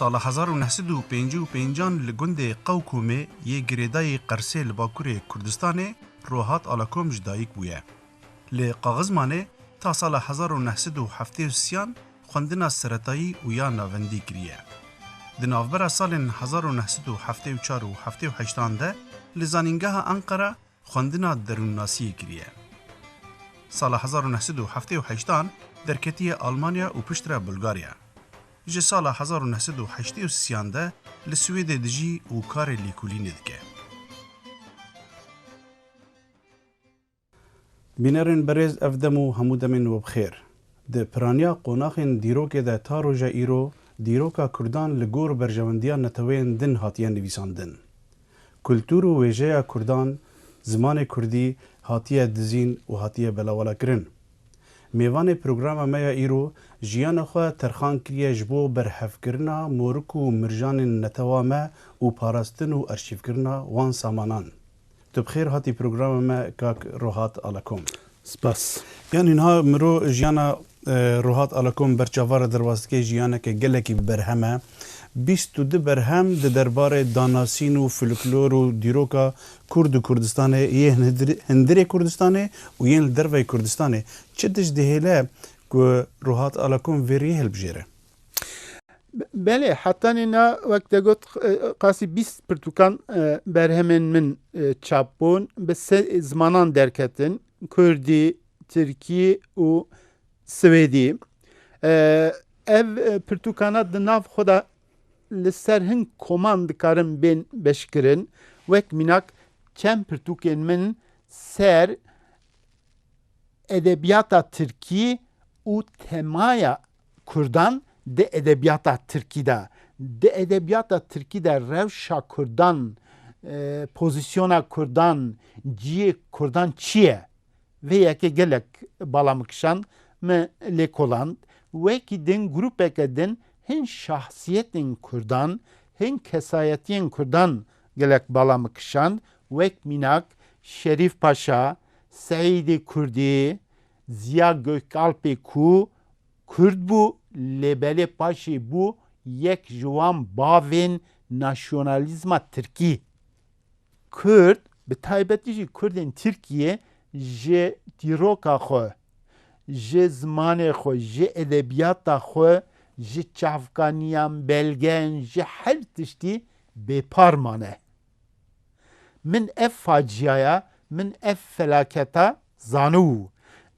Sala hezar û neh sed û pêncî û pênc an li gundê Qewkomê yê girêdayî Qersê li bakurê Kurdistanê Rohat Alakom ji dayîk bûye. Li Qaxizmanê ta sala hezar û neh sed û heftê û sî an xwendina seretayî û ya navendî kiriye. Di navbera salên hezar û neh sed û heftê û çar û heftê û heşt an de li Zanîngeha Enqera xwendina derûnnasiyê kiriye. Sala hezar û neh sed û heftê û heşt an derketiye Almanya û piştre Bulgarya. Ji sala hezar û neh sed û heştê û sî an de li Swêdê dijî û karê lêkolînê dike. Bînerên berêz ev dem û hemû demên we bi xêr. Di piraniya qonaxên dîrokê de ta roja îro dîroka Kurdan li gor berjewendiya neteweyên din hatiye nivîsandin. Kultur û wêjeya Kurdan, zimanê Kurdî hatiye dizîn û hatiye belawalakirin. Mêvanê programa me ya îro jiyana xwe terxan kiriye ji bo berhevkirina morik û mirjanên netewa me û parastin û arşîvkirina wan samanan. Tu bi xêr hatî programa me kak Rohat Alakom. Spas. Yan niha miro jiyana Ruhat Alakom ber çavara derbas dike jiyaneke gelekî bi berhem e. Bîst û du berhem di derbarê danasîn û filiklor û dîroka Kurd û Kurdistanê yê hindirê Kurdistanê û yên li derveyê Kurdistanê çi tişt dihêle ku Ruhat Alakom vê riyê hilbijêre? Belê hetanê na wek te got qasî bîst pirtûkan berhemên min çap bûn bi sê zimanan derketin Kurdî, Tirkî û Swêdî. Ev pirtûkana di nav xwe de li ser hin koman dikarin bên beşkirin. Wek mînak çend pirtûkên min ser edebiyata Tirkî û temaya Kurdan di edebiyata Tirkî de, di edebiyata Tirkî de rewşa Kurdan, pozisyona Kurdan, ciyê Kurdan çi ye? Vê yekê gelek bala min kişand, min lêkoland. Wekî din grûpeke din hin şahsiyetên Kurdan, hin kesayetiyên Kurdan gelek bala min kişand, wek mînak Şerîf Paşa, Seîdê Kurdî, Ziya Gökalpê ku Kurd bû lê belê paşê bû yek ji wan bavên nasyonalîzma Tirkî. Kurd, bi taybetî jî Kurdên Tirkiyê ji dîroka xwe, ji zimanê xwe, ji edebiyata xwe, ji çavkaniyan, belgeyan, ji her tiştî bêpar mane. Min ev faciyaya, min ev felaketa Zanû,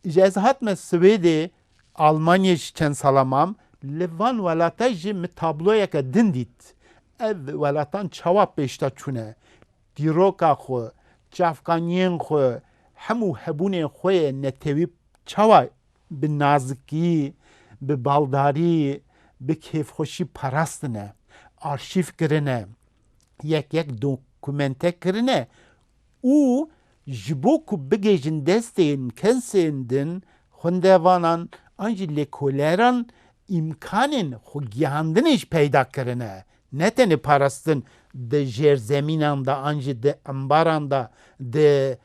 ji ez hatime Swêdê, Almanyê ji çend sala mam, li van welate jî min tabloyeke din dît. Ev welatan çawa pêşta çûne, dîroka xwe, çavkaniyên xwe, hemû hebûnê xwe yê netewî çawa bi nazikî, bi baldarî, bi kêfxweşî parastine, arşîv kirine, yek yek dokumente kirine û ji bo ku bigihîjin destên kesên din, xwendevanan an jî lêkoleran îmkanên xwegihandinê jî peyda kirine, ne tenê parastin di jêrzemînan de an jî di embaran de, di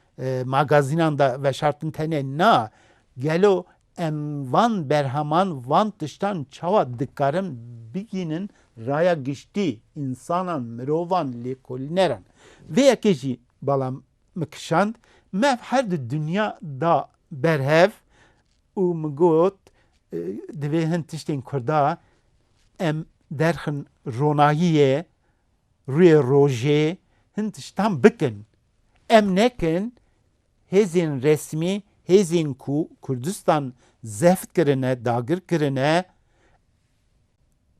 magazînan de veşartin tenê na, gelo Em van berheman, van tiştan çawa dikarin bigihînin raya giştî, însanan, mirovan, lêkolîneran. Vê yekê jî bala min kişand, me ev her du dinya da berhev û min got divê hin tiştên Kurda em derxin ronahiyê, rûyê rojê, hin tiştan bikin. Em nekin hêzên resmî, hêzên ku Kurdistan zeft kirine, dagir kirine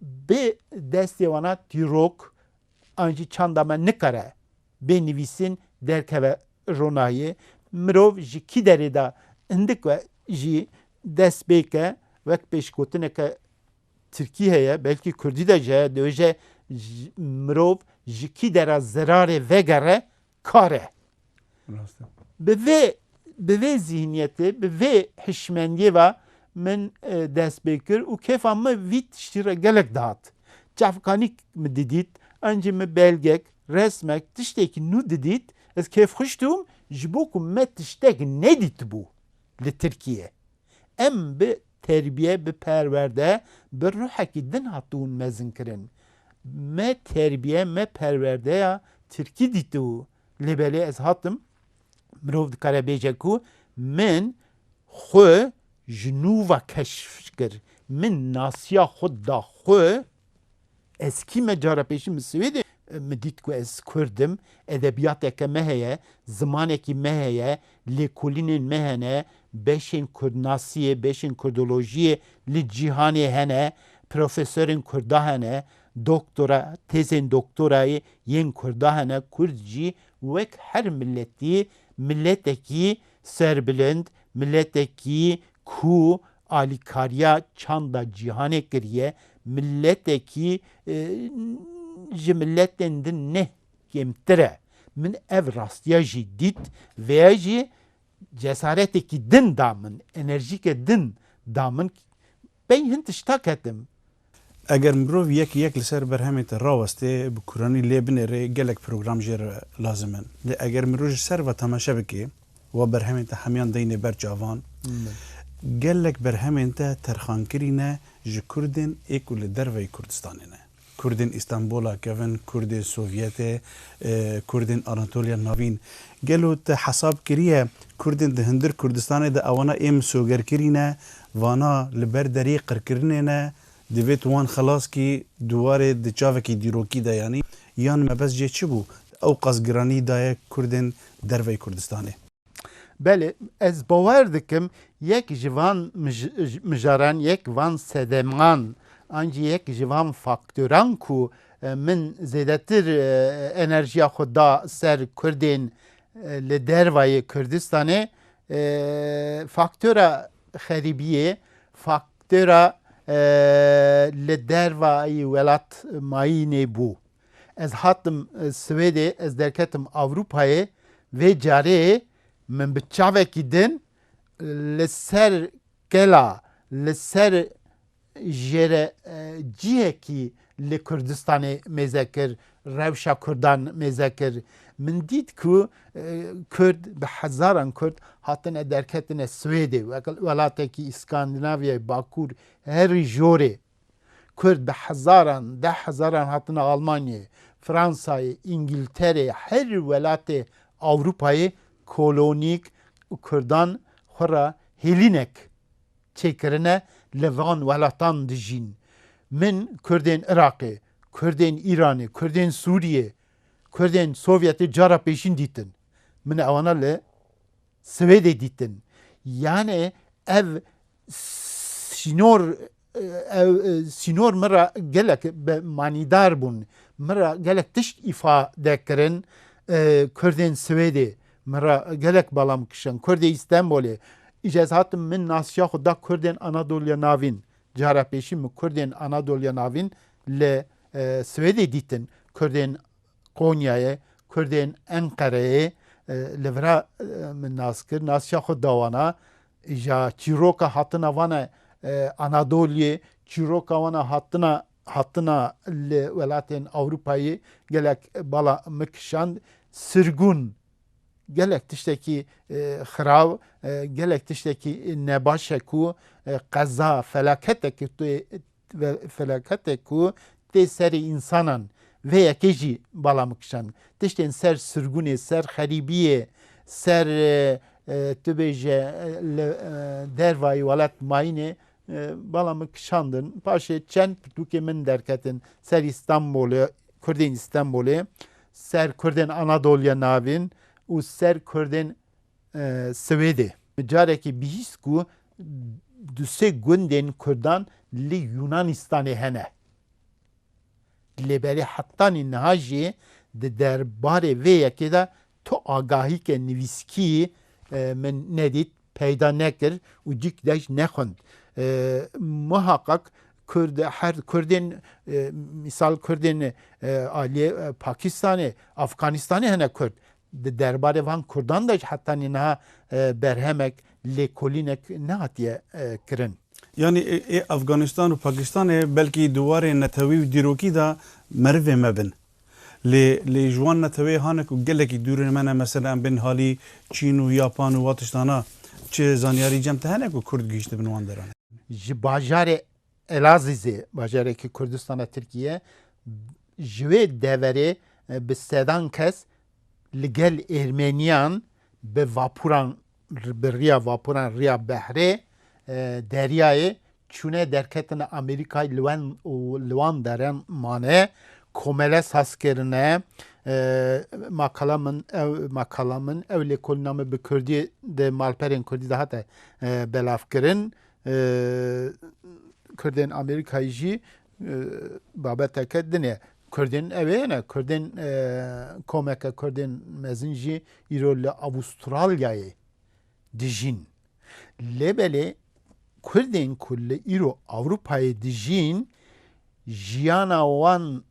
bi destê wan a tîrok an jî çanda me nikare bê nivîsîn derkeve ronahiyê. Mirov ji kî derê de hindik we jî dest pê ke wek pêşgotineke tirkî heye belkî kurdî de ji heye dibêje mirov ji kî dera zerarê vegere kar e. Bi vê bi vê zîhniyetê, bi vê hişmendiyê ve min dest pê kir û kêfa min vî tiştî re gelek dihat. Çavkanî min didît, ancî min belgek, resmek, tiştekî nû didît, ez kêfxweş dibûm ji bo ku me tiştek nedîtibû li Tirkiyeyê. Em bi terbiye, bi perwerde, bi ruhekî din hatibûn mezinkirin. Me terbiye, me perwerdeya tirkî dîtibû. Lê belê ez hatim, mirov dikare bêje ku min xwe ji nû ve keşf kir, min nasiya xwe da xwe. Ez kî me cara pêşî min Swêdê min dît ku ez Kurd im, edebiyateke me heye, zimanekî me heye, lêkolînên me hene, beşên kurdnasiyê, beşên kurdolojiyê li cîhanê hene, profesorên kurda hene, doktora, têzên doktorayê yên kurda hene, kurd jî wek her miletî miletekî serbilind, miletekî Ku alîkariya çanda cîhanê kiriye, miletekî ji miletên din ne kêmtir e. Min ev rastiya jî dît, vêya jî cesaretekî din da min, enerjîke din da min. Pey hin tişta ketim, Eger mirov yek yek li ser berhemên te rawestê, bi kuranî lê binêrê gelek program jê re lazim in. Lê eger mirov ji ser ve temaşe bike û berhemên te hemiyan deyne ber çavan, gelek berhemên te terxankirî ne ji kurdên ê ku li derveyî Kurdistanê ne. Kurdên Îstanbûla kevin, kurdên Sovyetê, kurdên Anatoliya Navîn. Gelo te hesab kiriye kurdên di hundir Kurdistanê de ewana ê misoger kirîne? Vana li ber deriyê qirkirinê ne, divêt wan xilas kî di warê di çavekî dîrokî de yanî yan mebes jê çi bû ew qas giranî daye kurdên derveyî Kurdistanê. Belê, ez bawer dikim yek ji van mijaran, yek van sedeman an jî yek ji van faktoran ku min zêdetir enerjiya xwe da ser kurdên li dervayê Kurdistanê Faktora xerîbiyê faktora li dervayî welat mayînê bû. Ez hatim Swêdê, ez derketim Ewropayê, vê carê min bi çavekî din li ser kela, li ser jê re cihekî li Kurdistanê mêze kir, rewşa Kurdan mêze kir. Min dît ku Kurd bi hezaran Kurd hatine derketine Swêdê welatekî Îskandinavyayê Bakûr herî jorê. Kurd bi hezaran, deh hezaran hatine Almanyayê, Fransayê, Îngilterê herî welatê Ewrûpayê kolonîk Kurdan xwe re hêlînek çêkirine li van welatan dijîn. Min Kurdên Iraqê, Kurdên Îranê, Kurdên Sûriyê, Kurdên Sovyetê cara pêşîn dîtin. Min ewana li Swêdê dîtin. Yanê ev sînor ew sînor min re gelek bi manîdar bûn. Min re gelek tişt îfade kirin Kurdên Swêdê Min re gelek balam kişand. Kurdê Îstenbolê. Îca ez hatim min nasiya xwe da Kurdên Anadoliya Navîn. Cara pêşî min Kurdên Anadoliya Navîn li Swêdê dîtin. Kurdên Konyayê, Kurdên Enqereyê li vir e min nas kir. Nasiya xwe da wan a. Îja çîroka hatina van e Anadoliyê, çîroka wan a hatina hatina li welatên Ewropayê gelek bala min kişand. Sirgûn gelek tiştekî xirav, gelek tiştekî nebaş e ku qeza felaketek felaketek ku tê serê însanan vê yekê jî bala min kişand. Tiştên ser sirgûnê, ser xerîbiyê, ser tu bêje li dervayê welat mayînê Bala min kişandin. Paşê çend pirtûkê min derketin serî Stenbolê, Kurdên Stenbolê, ser Kurdên Anadoliya Navîn û ser Kurdên Swêdê. Carekî bihîst ku du sê gundên Kurdan li Yûnanîstanê hene. Lê belê hetanî niha jî di derbarê vê yekê de Tu agahîkê nivîskî min nedît, peyda nekir û dîk dej nexwend. Muhaqaq kurd her kurdên mîsal kurdên aliyê Pakistanê, Afganistanê hene kurd. Di derbarê van kurdan de jî heta nînaha berhemek, lêkolînek nehatiye kirin. Yanî ê Afganistan û Pakistanê belkî di warê netewî û dîrokî de merivê me bin. Lê lê ji wan neteweyê hane ku gelekî dûr in me ne mesele em bên halî Çîn û Yapan û wa tiştana çi zanyarî cem te hene ku Kurd gihîşt dibin wan deran. Ji bajarê Elazizê bajarekî Kurdistana Tirkiyê ji wê deverê bi sedan kes li gel Êrmeniyan bi vapuran bi riya vapuran riya behrê deryayê çûne derketine Amerîkayê li wen û li wan deran mane komele saz kirine makala min ew makala min ew lêkolîna min bi kurdî di malperên kurdî de hate belavkirin kurdên Amerîkayê jî Babeteke din e. Kurdên ev ê ne Kurdên komeke Kurdên mezin jî îro li Avustralyayê dijîn. Lê belê Kurdên ku li îro Ewropayê dijîn jiyana wan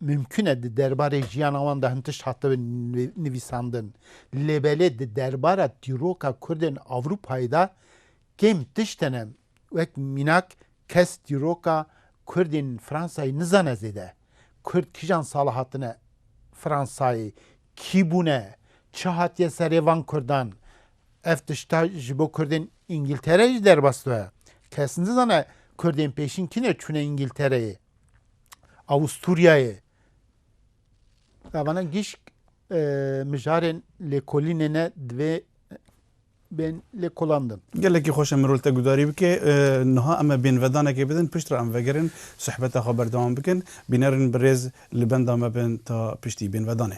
mimkûn e di derbarê jiyana wan de hin tişt hatibin nivîsandin. Lê belê di derbara dîroka Kurdên Ewropayê de kêm tişt hene Wek mînak kes dîroka Kurdên Fransayê nizane zêde Kurd kijan sala hatine Fransayê, kî bûne, çi hatiye serê van Kurdan. Ev tişta ji bo Kurdên Îngîltereyê jî derbas dibe. Kes nizane Kurdên pêşîn kîne çûne Îngîltereyê, Awûstûryayê. Gavana gişk mijarên lêkolînê ne divê bên lêkolandin. Gelekî xweş e mirov li te gudarî bike. Niha em ê bênvedanekê bidin, piştre em vegerin sohbeta xwe berdewam bikin. Bînerên birêz li benda me bin ta piştî. Bênvedanê.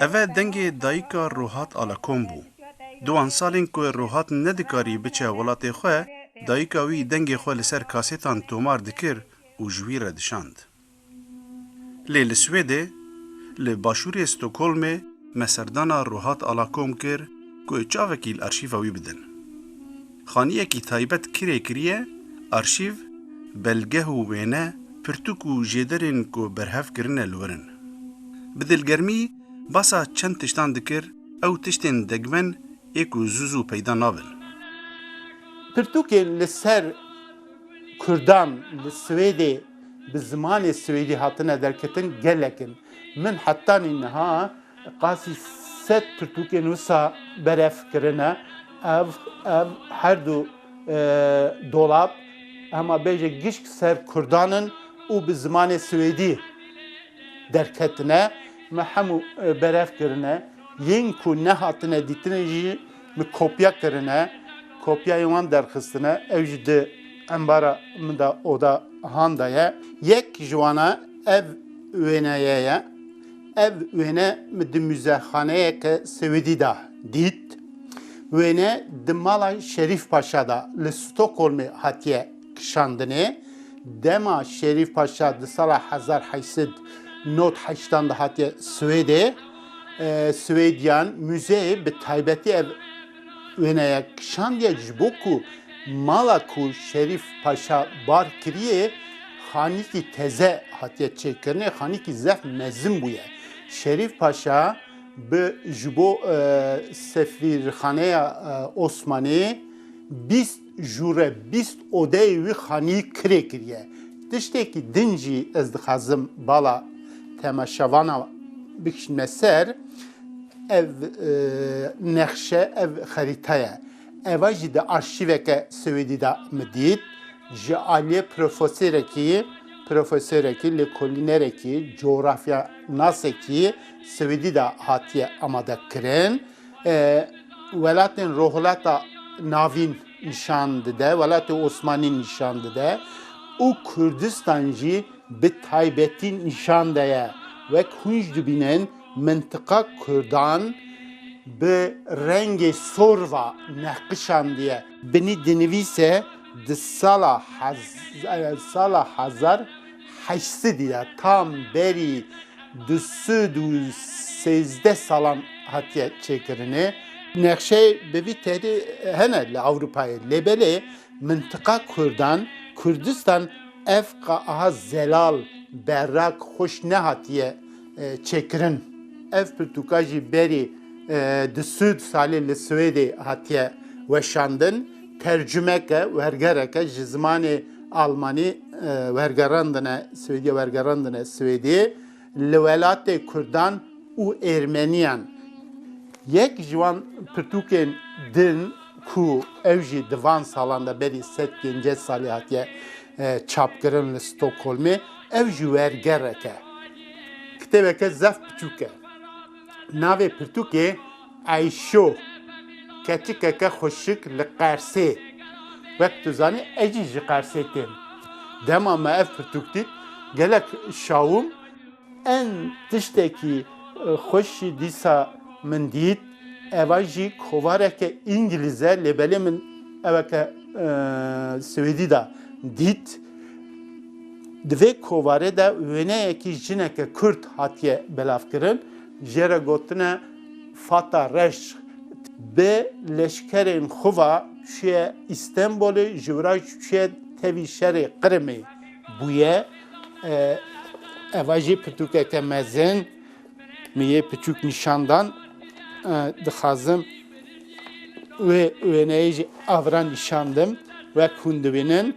Ev e dengê dayika Ruhat Alakom bû. Di wan salên ku Ruhat nedikarî biçe welatê xwe, dayika wî dengê xwe li ser kasêtan tomar dikir û ji wî re dişand. Lê li Swêdê, li başûrê Stockholmê me serdana Ruhat Alakom kir ku çavekî li arşîva wî bidin. Xaniyekî taybet kirê kiriye, arşîv, belgeh û wêne, pirtûk û jêderên ku berhev kirine li wir in. Bi dilgermî basa çend tiştan dikir, ew tiştên degmen ê ku zû zû peyda nabin. Pirtûkên li ser Kurdan li Swêdê bi zimanê swêdî hatine derketin gelek in. Min hetanî niha qasî sed pirtûkên wisa berev kirine. Ev ev her du Dolap, hema bêje gişk ser kurdan in û bi zimanê swêdî derketine. Me hemû berev kirine. Yên ku nehatine dîtinê jî min kopya kirine. Kopyayên wan derxistine. Ew jî di embara min de oda han de ye. Yek ji wan e ev wêneye ye. Ev wêne min di muzexaneyeke Swêdî de dît. Wêne di mala Şerîf Paşa de li Stockholmê hatiye kişandinê. Dema Şerîf Paşa di sala hezar heşt sed nod heştan de hatiye Swêdê, Swêdiyan muzeyê bi taybetî ev Wêne ya kişand ye ji bo ku mala ku Şerîf Paşa bar kiriyê xanîkî teze hatiye çêkirinê, xanîkî zef mezin bûye. Şerîf Paşa bi ji bo sefîrxaneya Osmanê bîst Jû re bîst odeyê wî xanî kirê kiriye. Tiştekî din jî ez dixwazim bala temaşevanan bikişînme ser, ev nexşe, ev xerîta ye. Eva jî di arşîveke Swêdî de min dît. Ji aliyê profesêrekî, profesêrekî, lêkolînerekî, cografyanasekî Swêdî de hatiye amadekirin. welatên Rojhilata Navîn nîşan dide, welatê Osmanî nîşan dide û Kurdistan jî bi taybetî nîşan de ye. Wek hûn jî dibînin mintiqa Kurdan bi rengê sor ve neqişandiye. Binî dinivîse di sala hezar Heyşsidi ya tam berî du sed û sêzdeh salan hatiye çêkirinê. Nexşeyê bi vî tehdî hene li Ewropayê lê belê mintiqa Kurdan, Kurdistan ev qe aha zelal, berrak, xweş nehatiye çêkirin. Ev pirtûka jî berî di Sûd salê li Swêdê hatiye weşandin. Tercumeke, wergereke ji zimanê Almanî wergerandine Swêdî wergerandine Swêdî li welatê Kurdan û Êrmeniyan. Yek ji wan pirtûkên din ku ew jî di van salan de berî sed pêncî salî hatiye çapkirin li Stokholmê, Ev ji wer gerek e. Kitêbeke zef piçûk e. Navê pirtûkê Eyşo, keçikeke xweşik li Qersê. Wek tu zanî ez jî ji Qersê têm. Dema me ev pirtûk dît gelek şawim. Ên tiştekî xweş jî dîsa min dît. Eva jî kovareke îngilîz e lê belê min eweke swêdî da dît. Di vê kovarê de wêneyekî jineke Kurd hatiye belavkirin, jê re gotine Fata Reş bi leşkerên xwe ve çûye Îstenbolê, ji wira jî çûye tevî şerê Qrimê bûye. Eva jî pirtûkeke mezin min yê piçûk nîşan dan. Dixwazim wê wêneyê jî avran nîşan dim wek hûn dibînin.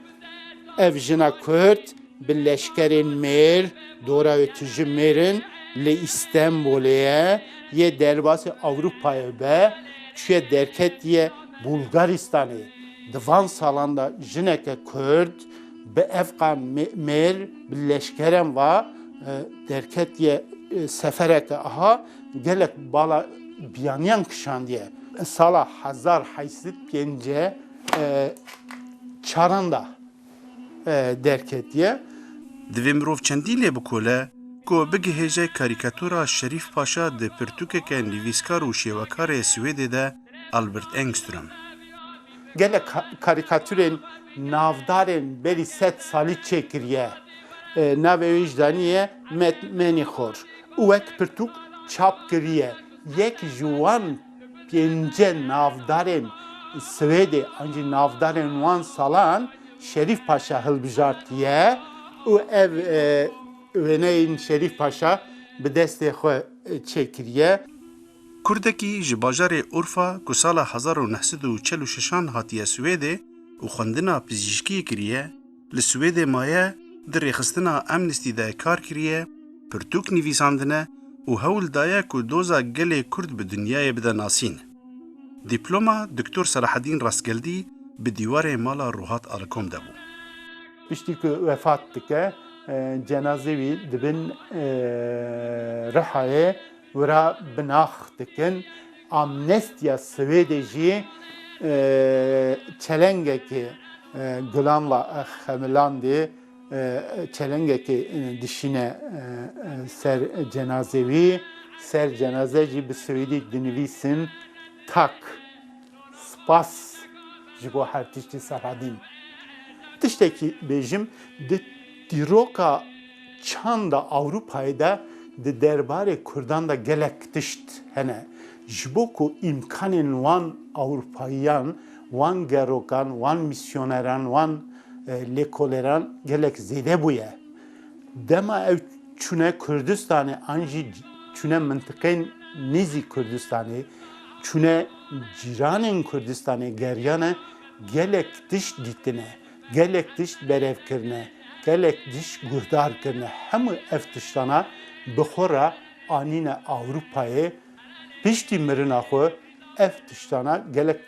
Ev jina Kurd bi leşkerên mêr, dora wê tu ji mêr in, li Îstenbolê ye, yê derbasê Ewropayê be, çûye derketiye Bulgaristanê. Di van salan de jineke Kurd bi evqa mêr bi leşkeren ve derketiye sefereke aha gelek bala biyaniyan kişandiye. Sala hezar heşt sed û pêncî çaran da derketiye. Divê mirov çendî lê bikole ku bigihêje karîkatura Şerîf Paşa di pirtûkeke nivîskar û şêwekarê Swêdê de Albert Engström. Gelek karîkaturên navdarên berî sed salî çêkiriye. Navê wê jî daniye Met Menîxor û wek pirtûk çap kiriye. Yek ji wan Pêncî navdarên Swêdê an jî navdarên wan salan Şerîf Paşa hilbijartiye û ev wêneyên Şerîf Paşa bi destê xwe çêkiriye. Kurdekî ji bajarê Urfa ku sala hezar û neh sed û çil û şeşan hatiye Swêdê û xwendina pizîşkiyê kiriye, li Swêdê maye, di rêxistina Amnesty de kar kiriye, pirtûk nivîsandine û hewl daye ku doza gelê Kurd bi dinyayê bide nasîn. Dîploma Doktor Selahedîn Rastgeldî bi dîwarê mala Ruhat Alikom de bû. Piştî ku wefat dike, cenazê wî di bin Rihayê Wira binax dikin. Amnestîya Swêdê jî çelengekê Gulan la xemilandê çelengekê dişîne ser cenazê wî. Ser cenaze jî bi swêdî dinivîsin Tak. Spas ji bo her tiştî Serhedîn. Tiştekî bêjim, di dîroka çanda Ewropayê de di derbarê Kurdan de gelek tişt hene. Ji bo ku îmkanên wan Ewropayiyan, wan gerokan, wan mîsyoneran, wan lêkolêran gelek zêde bûye. Dema ew çûne Kurdistanê an jî çûne mintiqeyên nêzîk Kurdistanê, çûne cîranên Kurdistanê geriyane gelek tişt dîtine, gelek tişt berev kirine, gelek tişt guhdar kirine. Hemû ev tiştana bi xwe re anîne Ewropayê. Piştî mirina xwe ev tiştana gelek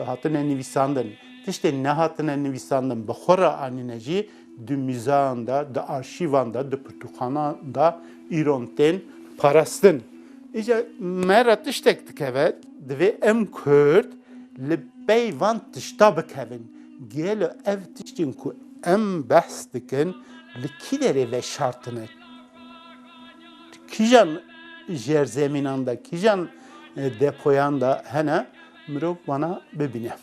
hatine nivîsandin. Tiştên nehatine nivîsandin bi xwe re anîne jî. Di mîzeyan de, di arşîvan de, di pirtûkxanan de îron tên parastin. Îca me re tiştek dikeve, divê em Kurd li pey van tişta bikevin. Gelo ev tiştên ku em behs dikin li kî derê veşartine? Kîjan jerzemînan de, kîjan depoyan de hene mirov wana bibîne?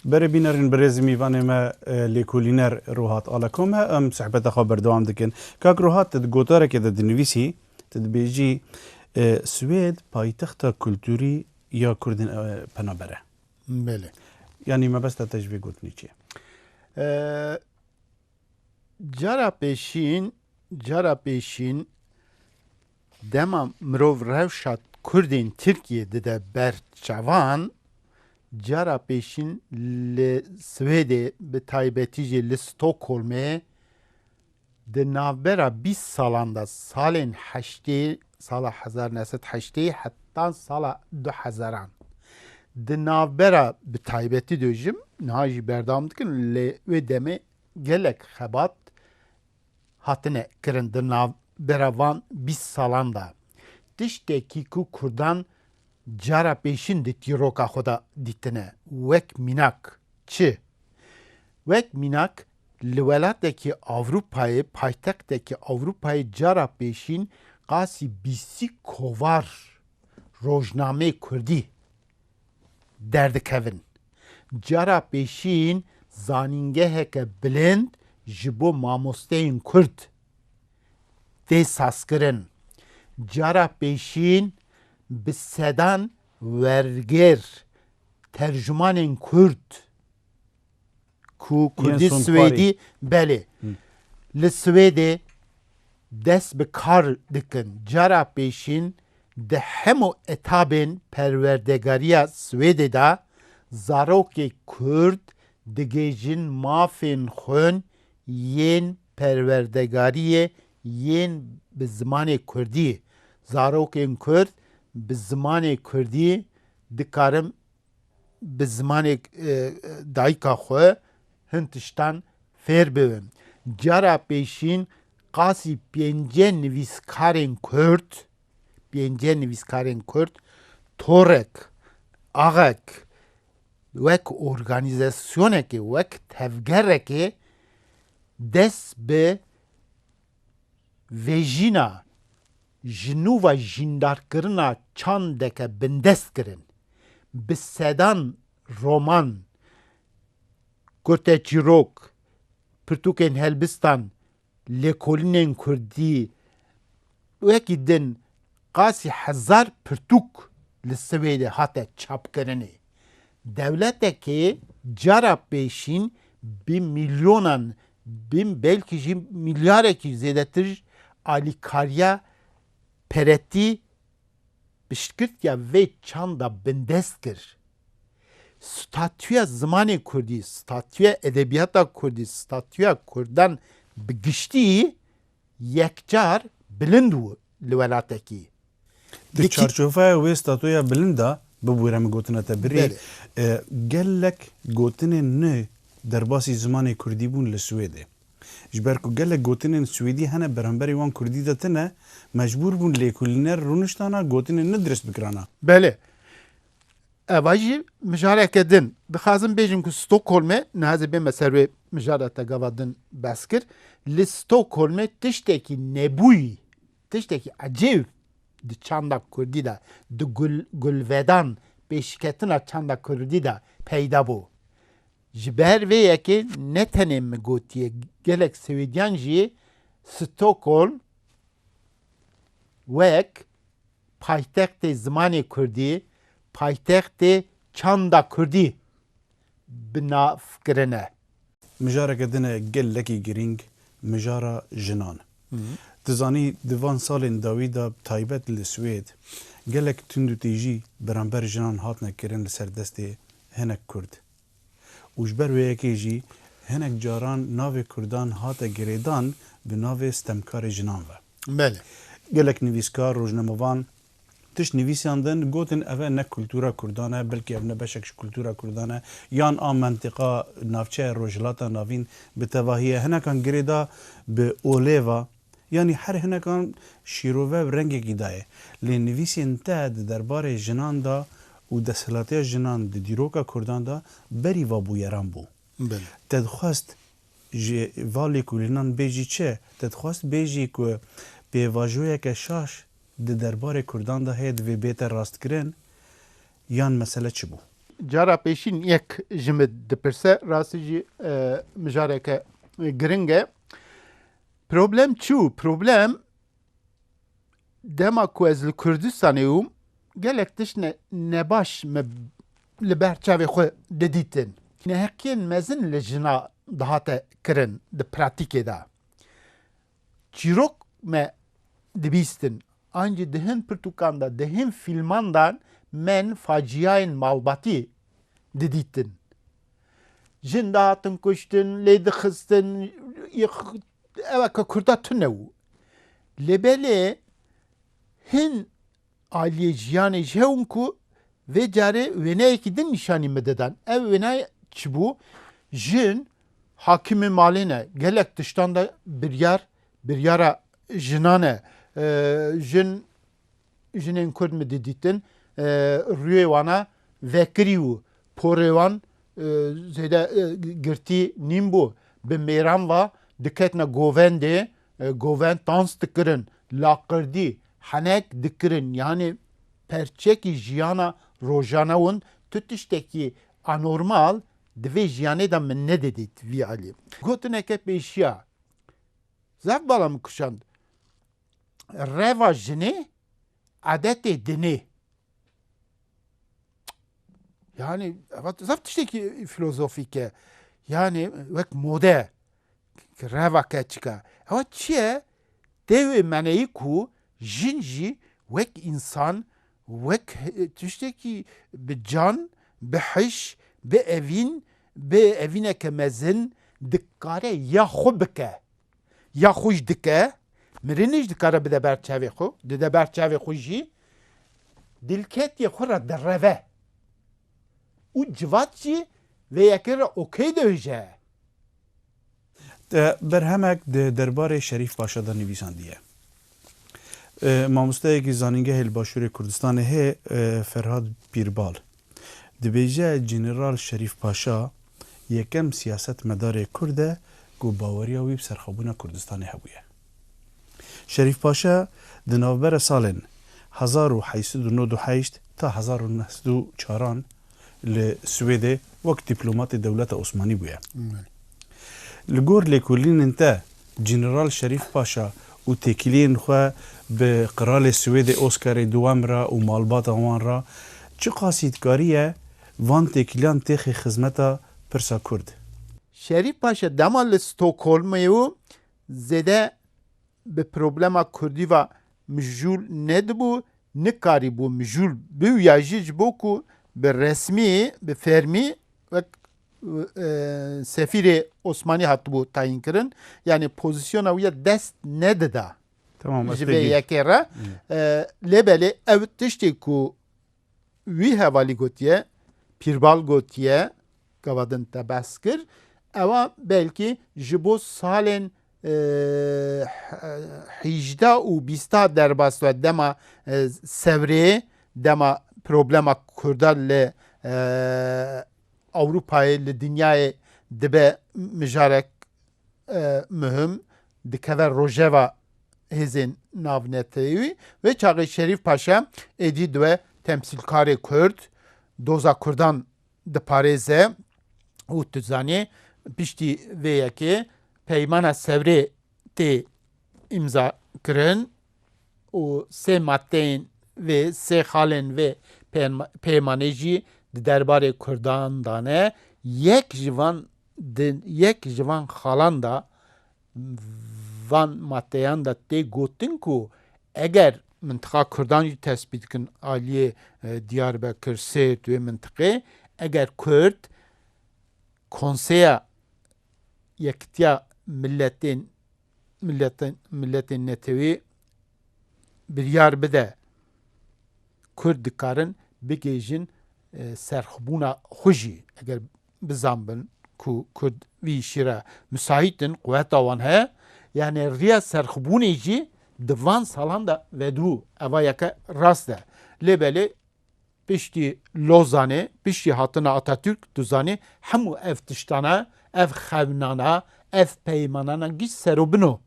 Berê bînerên birêz mîvanê me lêkolîner Ruhat Aleko me em sohbeta xwe berdewam dikin. Kak Ruhat tu di gotarekê de dinivîsî tu dibêjî Swêd paytexta kulturî ya Kurdên penaber e. Belê. Yanî mebesta te ji vê gotinê çi ye? Cara pêşîn cara pêşîn Dema mirov rewşa Kurdên Tirkiyê dide ber çavan, cara pêşîn li Swêdê bi taybetî jî li Stockholmê di navbera bîst salan de salên heştê sala hezar neh sed heştê heta sala du hezaran di navbera bi taybetî dojim niha jî berdewam dikin lê wê demê gelek xebat hatine kirin di navbera van bîst salan de, tiştekî ku Kurdan cara pêşin di tîroka xwe de dîtine wek mînak. Çi? Wek mînak li welatekî Ewropayê, paytextekî Ewropayê cara pêşîn qasî bîstî kovar rojnameyê kurdî derdikevin. Cara pêşîn zanîngeheke bilind ji bo mamosteyên Kurd tê sazkirin. Cara pêşîn bi sedan wergêr, tercumanên Kurd, Ku Kurdî Swêdî belê li Swêdê dest bi kar dikin. Cara pêşîn di hemû etabên perwerdegariya Swêdê de zarokê Kurd digihîjin mafên xwên yên perwerdegariyê yên bi zimanê Kurdî. Zarokên Kurd bi zimanê Kurdî dikarin bi zimanê dayika xwe hin tiştan fêr bibin. Cara pêşîn qasî pêncê nivîskarên Kurd, pêncê nivîskarên Kurd torek, axek wek organîzasyonekê, wek tevgerekê dest bi Vejîna ji nû ve jîndarkirina çandeke bindest kirin. Bi sedan roman, kurteçîrok, pirtûkên helbistan, lêkolînên kurdî wekî din qasî hezar pirtûk li Swêdê hate çapkirinê. Dewletekê cara pêşîn bi mîlyonan, bi belkî jî mîlyarekî zêdetir alîkariya peretî piştgirtiya vê çanda bindest kir. Statuya zimanê kurdî, statuya edebiyata kurdî, statuya kurdan bi giştî yekcar bilind bûn. li welatekî. Di çarçoveya wê statoya bilind de bibûre min gotina te birî, gelek gotinên nû derbasî zimanê kurdî bûn li Swêdê. Ji ber ku gelek gotinên swêdî hene beramberî wan kurdî de tune, mecbûr bûn lêkolîner rûniştana gotinên nû dirist bikirana. Belê. Eva jî mijareke din. Dixwazim bêjim ku Stockholmê, niha zê bême ser wê mijara te gava din behs kir, li Stockholmê tiştekî nebûyî, tiştekî ecêb di çanda kurdî de, di gulvedan pêşketina çanda kurdî de peyda bû. Ji ber vê yekê ne tenê min gotiye, gelek Swêdyan jî Stockholm wek Paytextê zimanê kurdî, paytextê çanda kurdî bi nav kirine. Mijareke din e gelekî girîng, mijara jinan. Tu zanî di van salên dawî de bi taybet li Swêd gelek tundûtîjî beramber jinan hatine kirin li ser destê hinek kurd. û ji ber wê yekê jî hinek caran navê Kurdan hate girêdan bi navê stemkarê jinan ve. Belê. Gelek nivîskar, rojnamevan tişt nivîsiyan din, gotin eve ne kultura Kurdan e, belkî ev ne beşek ji kultura Kurdan e, yan a mentiqa navçeya Rojhilata Navîn bi tevahî ye. Hinekan girêda bi olêva. Yanî her hinekan şîrove û rengekî daye. Lê nivîsên te di derbarê jinan de û desthilatiya jinan di dîroka kurdan de berî va bûyeran bû. Te dixwest ji va lêkolînan bêjî çi? Te dixwest bêjî ku pêvajoyeke şaş di derbarê kurdan de heye divê bête rastkirin yan mesele çi bû? Cara pêşîn yek ji min dipirse, rastî jî mijareke giring e. Problem çi û problem dema ku ez li Kurdistanê ûm gelek tişt ne nebaş me li ber çavê xwe didîtin. Neheqiyên mezin li jina dihate kirin di pratîkê de. Çîrok me dibîstin an jî di hin pirtûkan de di hin fîlman de men faciyayên malbatî didîtin. Jin dihatin kuştin, lê dixistin, ew ka Kurda tune bû. Lê belê hin aliyê jiyanê ji hewn ku vê carê wêneyekî din nîşanî min didan. Ev wêneyê çi bû? Jin hakimê malê ne, gelek tiştan de biryar, biryara jinan e. Jin Jinên Kurd min didîtin rûyê wan e vekirî û porê wan zêde girtî nîn bû. Bi mêran ve diketine govendê, govend tans dikirin, laqirdî, henek dikirin. Yanê perçekî jiyana rojane win. Tu tiştekî anormal di vê jiyanê de min nedidît vî alî. Gotineke pêşiya zaf bala min kişand. reva jinê edetê dinê. Yani zaf tiştekî filozofîk e. Yani wek mode ki reva keçika. Ewa çi ye? Tevê meneyî ku jin jî wek însan, wek tiştekî bi can, bi hiş, bi evîn, bi evîneke mezin dikare ya xwe bike. ya xwe jî dike, mirinê jî dikare bide ber çavê xwe, dide ber çavê xwe jî dîlketiyê xwe re direve û civat jî vê yekê re okey diêje. Berhemek di derbarê Şerîf Paşa de nivîsandiye. Mamosteyekî zanîngehê li Başûrê Kurdistanê heye Ferhad Pîrbal. Dibêje General Şerîf Paşa yekem siyasetmedarê Kurd e ku baweriya wî bi serxwebûna Kurdistanê hebûye. Şerîf Paşa di navbera salên hezar û heşt sed û nod û heşt ta hezar û neh sed û çar an li Swêdê wek dîplomatê dewleta Osmanî bûye. Li gor lêkolînên te, General Şerîf Paşa û têkiliyên xwe bi Qiralê Swêdê Oskarê Duwem re û malbata wan re çi qasîdkarî ye, van têkiliyan têxê xizmeta pirsa kurd. Şerîf Paşa dema li Stokholmê û zêde bi problema kurdî ve mijûl nedibû, nikarîbû mijûl biwî ya jî ji bo ku bi resmî, bi fermî wek Sefîrê Osmanî hatibû tayînkirin, yanî pozîsyona wî ya dest nedida ji vê yekê re. Lê belê ew tiştê ku wî hevalî gotiye, pîrbal gotiye, gava din te behs kir, ewa belkî ji bo salên hîjda û bîsta derbas ve dema sevrê, dema problema kurda li Ewropayê li dinyayê dibe mijarek muhim, dikeve rojeva hêzên navnetewî. Vê çaxê Şerîf Paşa êdî di we temsîlkarê Kurd, doza Kurdan diparêze û tu zanî piştî vê yekê peymana Sewrê tê îmzakirin. û sê maddeyên vê sê xalên vê peymanê jî di derbarê Kurdan de ne, yek ji van di yek ji van xalan de van maddeyan de tê gotin ku eger mintiqa Kurdan jî tespît dikin aliyê Diyarbekir, Sêrt wê mintiqê eger Kurd Konseya Yekitiya Miletên miletên netewî biryar bide Kurd dikarin bigihîjin serxwebûna xwe jî eger bizanbin ku Kurd vî îşî re misahît in, quweta wan heye yanî riya serxwebûnê jî di van salan de vedibû eva yeke rast e. Lê belê Piştî Lozanê, piştî hatina Atatürk, tu zanî hemû ev tiştana, ev xewnana, ev peymanana giş ser û bino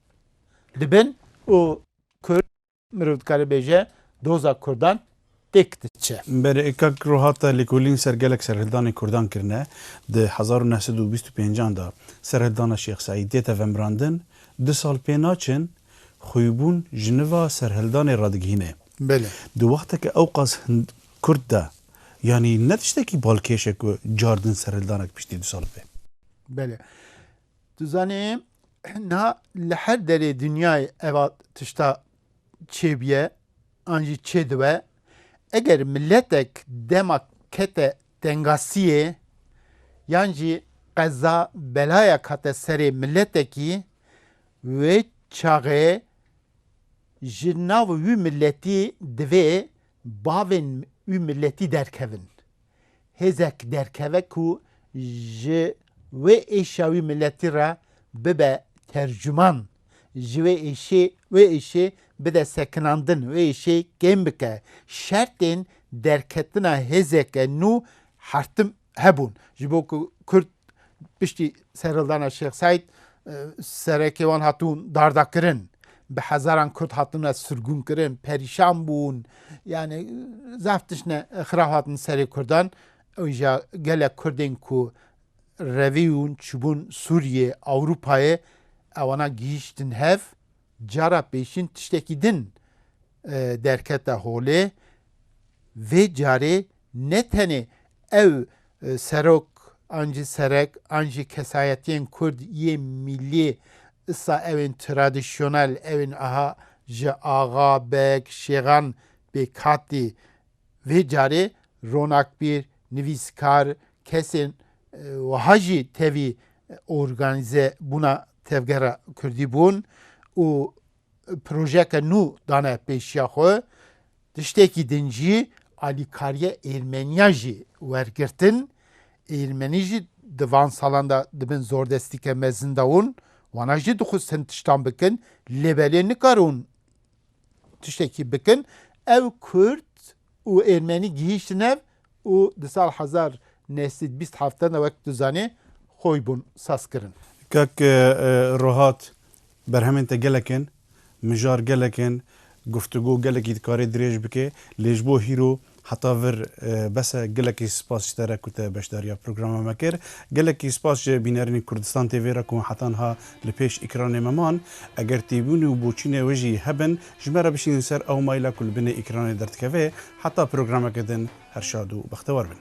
dibin û Kurd, mirov dikare bêje doza Kurdan têk diçe. Berê kak ro hate lêkolîn ser gelek serhildanên Kurdan kirine. Di hezar û neh sed û bîst û pêncan de serhildana Şêx Seîdê te vemirandin. Du sal pê naçin xwîbûn ji niva serhildanê radigihînê. Belê. Di wexteke ewqas kurt de yanî ne tiştekî balkêş e ku cardin serhildanek piştî du sal bê. Belê. Tu zanî niha li her derê dinyayê eva tişta çêbûye an jî çêdibe. Eger miletek dema kete tengasiyê yan jî qeza belayek hate serê miletekî wê çaxê Ji nav wî miletî divê bavên wî miletî derkevin. Hêzek derkeve ku ji wê êşa wî miletî re bibe tercuman, ji wê êşê wê êşê bide sekinandin, wê êşê kêm bike. Şertên derketina hêzeke nû Her tim hebûn ji bo ku Kurd piştî serhildana Şêx Seîd serekê wan hatûn dardakirin. Bi hezaran Kurd hatine sirgûnkirin, perîşan bûn. Yani zaf tişne xira hatin serê Kurdan. Ew jî gelek Kurdên ku revîyûn çûbûn Sûriyê, Ewropayê ewana gihîştin hev. Cara pêşîn tiştekî din derkete holê. Vê carê Ne tenê ew serok an jî serek an jî kesayetiyên kurd yê mîlî îsa ewên tradisyonel ewên aha ji axa, beg, şêxan pêkhatî vê carê ronakbîr, nivîskar, kesên wiha jî tevî organîze bûna tevgera kurdî bûn û projeyeke nû dane pêşiya xwe, tiştekî din jî alîkariya Êrmeniya jî wergirtin, Êrmenî jî di van salan de dibin zordestîke mezin de ûn wana jî dixwestin tiştan bikin lê belê nikarin tiştekî bikin ew kurd û Ermenî gihîştin ev û di sal hezar neh sed bîst heft de wek tu zanî xwe bûn saz kirin. Kak Ruhat, berhemên te gelek in, mijar gelek in, guftugo gelekî dikarê dirêj bike, lê ji bo hîro heta vir bes e. Gelekî spas ji te re ku te beşdariya programa me kir. Gelekî spas ji bînerînên Kurdistan TV re ku heta niha li pêş îkranê me man. Eger têbûn û boçînê wê jî hebin, Ji me re bişînin ser ew maîla ku li binê îkranê derdikeve heta programeke din her şad û bextewar bin.